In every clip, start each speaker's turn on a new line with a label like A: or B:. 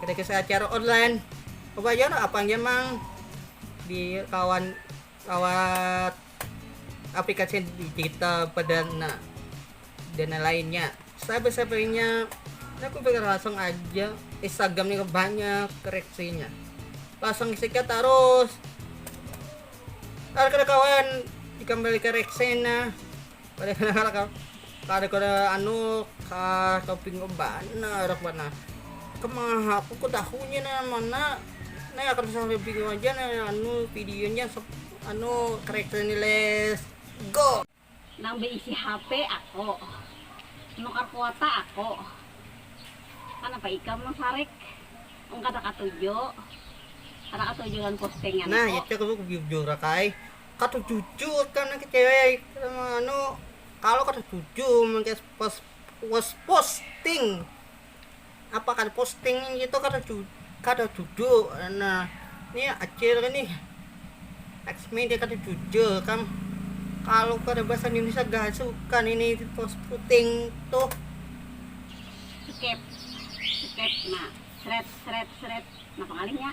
A: Kada kisah acara online, coba ja lah apang ja mang di lawan lawat aplikasi digital perdana dan lainnya. Sabar-sabarnya aku pikir langsung aja Instagram ini banyak koreksinya. Langsung sikat terus. Ada kawan dikembalikan reksena Kada kenal kau. Kada kada anu ka toping kau bana arak bana. Kemaha aku ku tahunya na mana na akan pasang toping kau haja na anu videonya anu karakternya ni les go. Nang beisi
B: HP ako, menukar kuota ako, kanapa ikam nang sarik mun kada katuju kada katuju lawan postinganku. Nah itu aku
A: bujur akai. Kada jujur kah nang kecewaik anu kalo kada jujur mengkes pos pos posting apa kada posting itu kada ju kada jujur nah ni acil ini eks media kada jujur kam kalo kada bahasa Indonesia gasukan ini pos puting tuh
B: skip skip nah seret seret seret napa ngalihnya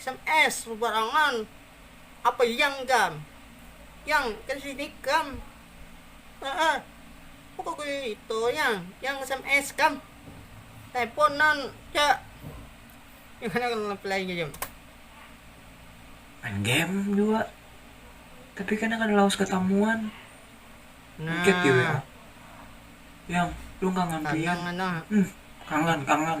A: Sms babarangan apa yang gam yang kesini gam eh pokok itu yang yang sms gam teleponan cak gimana kalau ngeplay gitu main
C: game juga tapi kan kada lawas ketamuan
A: nah chat di wa
C: yang lu kangen pian hmm kangen kangen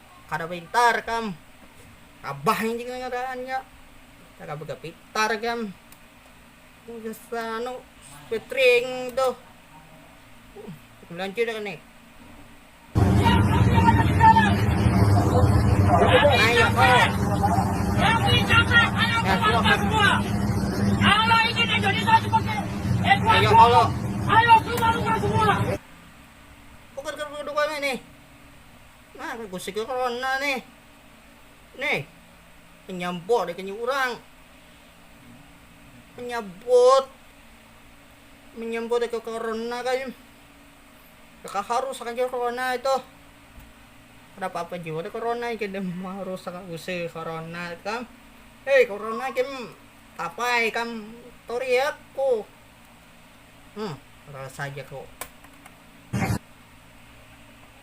A: kada pintar kam abah nih jingnya ngadaannya kada bega pintar kam anu petring tuh melanjut kan nih ayo kau ayo kalau ayo keluar semua bukan kedua-duanya nih Nah kaya gosek jua kawan nah nih. Nih. Penyabot nih kini urang. Penyabot. Menyabot ke corona kan. Kaka harus akan jua corona itu. Ada apa-apa jua deh corona ini kini harus akan gosek corona kan. Hei corona kim tapai kam toriak ku. Hmm, rasa aja kok.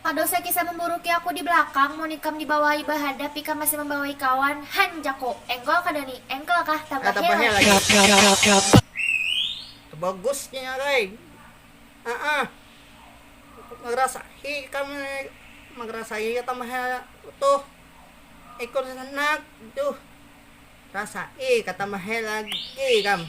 D: Kada usah kisah memburuki aku di belakang, mun ikam dibawai bahadap ikam masih membawai kawan, han jaku. Engkol kada ni? Engkel kah? Tambahnya lagi.
A: Bagus nih arai. Aah. Marasahi ikam nih. Marasahi tambahnya tuh. Ikun handak. Duh. Rasai kah tambahnya lagi ikam.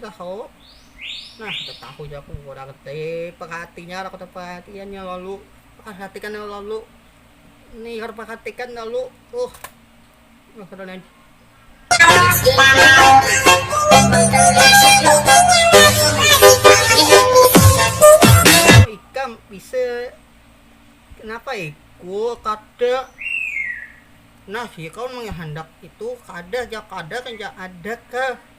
A: tahu nah tahu ja aku kurang te perhatinya aku perhatiannya lalu perhatikan lalu nih harus perhatikan lalu uh nah kada lain ikam bisa kenapa iku kada nah si kau menghendak itu kada ja kada kan ja ada ke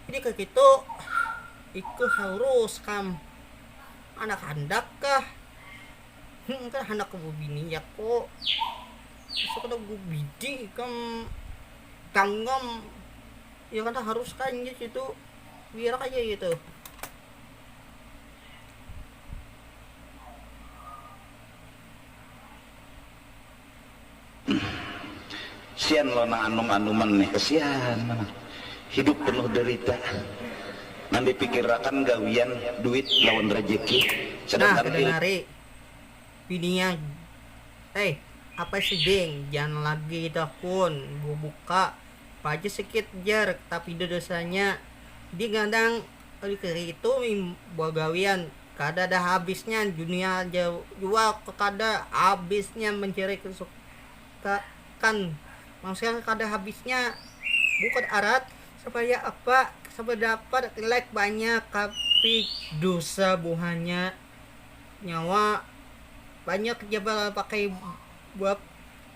A: jadi ke gitu itu harus kam anak handak kah hmm, kan handak ke bini ya kok bisa kada gue bidi kam kanggam ya kan harus kan ya gitu biar aja gitu
E: Kesian lo nang anum-anuman nih, kesian banar. Hidup penuh derita. Nang dipikirakan gawian, duit, lawan rejeki. Sedangkan Nah,
A: kedengar i. Bininya, Hei, apa sih ding, jangan lagi itu akun, bubuka pa aja sikit jar, tapi da dosanya. Ding kadang. Lifiri itu bagawian kada ada habisnya dunia ja jua kada habisnya mencari kesukaan manusia kada habisnya bukan arat supaya apa supaya dapat like banyak tapi dusa buhannya nyawa banyak ja bapakai buat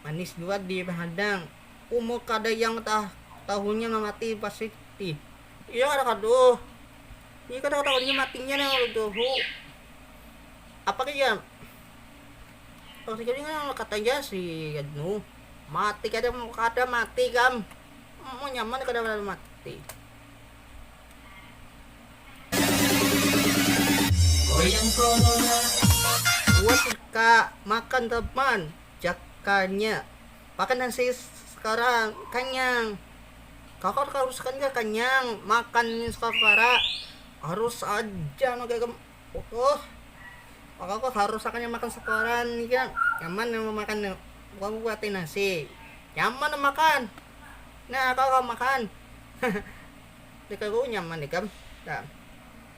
A: manis jua dihadang umur kada yang tahunya mamati pasti. Iya kada kaduh. Iya kada katahuan jua matinya nang lalu jahu. Apa lagi ya? Orang Singkil ini kan kata aja si anu. Mati kada kada mati kam. Mau nyaman kada lalu mati.
C: Buat
A: ka makan teman jakanya. Makan nasi sekarang kanyang. Kakak harus kan ja kanyang makan nih safara harus aja no gaga oh kakak tuh harus akan yang makan safara nih ja nyaman yang memakan nih bukan buat nasi nyaman makan nah kakak makan haha deka ku nyaman ikam.